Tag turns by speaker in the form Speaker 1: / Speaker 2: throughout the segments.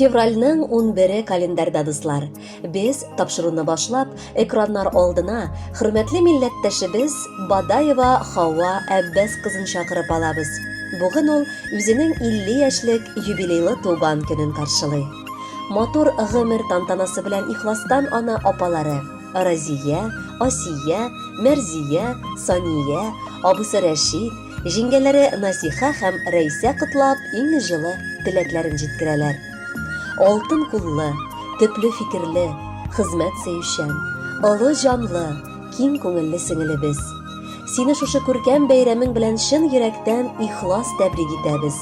Speaker 1: Февральның 11-е календарьда, дуслар. Без, тапшыруны башлап, экраннар алдына хөрмәтле милләттәшебез Бадаева Хава Әббәс кызын чакырып алабыз. Бүген ул үзенең 50 яшьлек юбилейлы туган көнен каршылый. Матур гомер тантанасы белән ихластан аны апалары Разия, Асия, Мәрзия, Сания, абысы Рәшит, Җиңгәләре Насиха һәм Рәйсә котлап, иң җылы теләкләрен җиткерәләр. Алтын куллы, төпле фикерле, хезмәт сөючән, олы җанлы, киң күңелле сеңелебез! Сине шушы күркәм бәйрәмең белән чын йөрәктән ихлас тәбрик итәбез!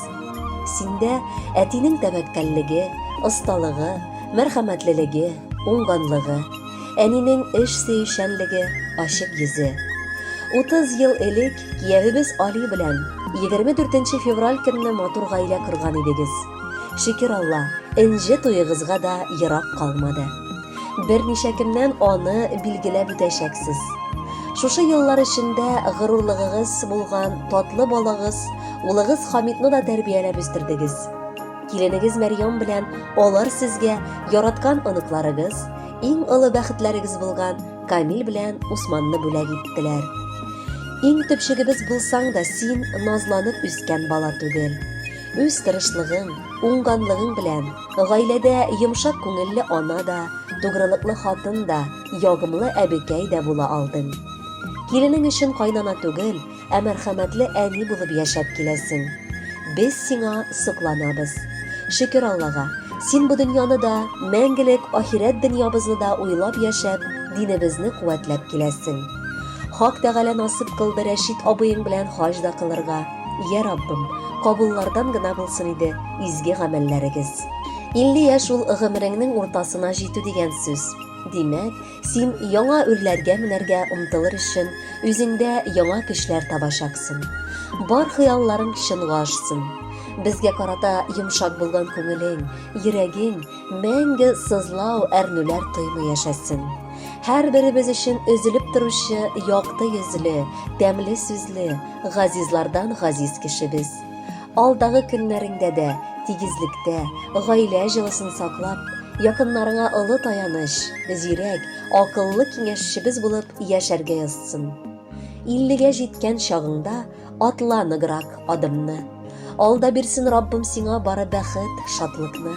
Speaker 1: Синдә әтинең тәвәккәллеге, осталыгы, мәрхәмәтлелеге, уңганлыгы, әнинең эш сөючәнлеге, ачык йөзе. Утыз ел элек Киявебез Али белән егерме дүртенче февраль көнне матур гаилә корган идегез. Шөкер Алла, энҗе туегызга да ерак калмады. Берничә көннән аны билгеләп үтәчәксез. Шушы еллар эчендә горурлыгыгыз булган татлы балагыз, улыгыз Хамитны да тәрбияләп үстердегез. Киленегез Мәрьям белән алар сезгә яраткан оныкларыгыз, иң олы бәхетләрегез булган Камил белән Усманны бүләк иттеләр. Иң төпчегебез булсаң да, син назланып үскән бала түгел. Үз тырышлыгың, уңганлыгың белән гаиләдә йомшак күңелле ана да, тугрылыклы хатын да, ягымлы әбекәй дә була алдың. Киленең өчен кайнана түгел, Ә мәрхәмәтле әни булып яшәп киләсең. Без сиңа сокланабыз. Шөкер Аллага, син бу дөньяны да, мәңгелек ахирәт дөньябызны да уйлап яшәп, динебезне куәтләп киләсең. Хак Тәгалә насыйп кылды Рәшит абыең белән хаҗ да кылырга. Йә, Раббым, кабуллардан гына булсын иде изге гамәлләрегез. Илле яшь ул гомереңнең уртасына җитү дигән сүз. Димәк, Син яңа үрләргә менәргә омтылыр өчен, үзеңдә яңа көчләр табачаксың. Бар хыялларың чынга ашсын. Безгә карата йомшак булган күңелең, йөрәгең мәңге сызлау, әрнүләр тоймый яшәсен. Һәрберебез өчен өзелеп торучы якты йөзле, тәмле сүзле, газизлардан газиз кешебез. Алдагы көннәреңдә дә тигезлектә, гаилә җылысын саклап, якыннарыңа олы таяныч, зирәк, акыллы киңәшчебез булып яшәргә язсын. Иллегә җиткән чагыңда атла ныграк адымны. Алда бирсен Раббым сиңа бары бәхет, шатлыкны.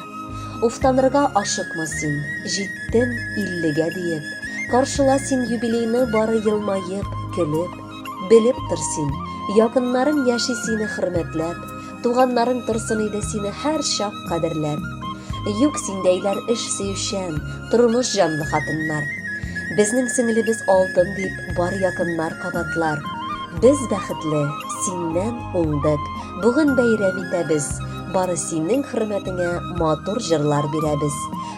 Speaker 1: Уфтанырга ашыкма син, җиттем иллегә диеп. Каршыла син юбилейны бары елмаеп, көлеп. Белеп тор син, якыннарың яши сине хөрмәтләп, туганнарың торсын иде сине һәр чак кадерләп. Юк синдәйләр эш сөючән, тормыш җанлы хатыннар. Безнең сеңлебез алтын дип бар якыннар кабатлар. Без бәхетле, синнән уңдык, бүген бәйрәм итәбез, бары синең хөрмәтеңә матур җырлар бирәбез.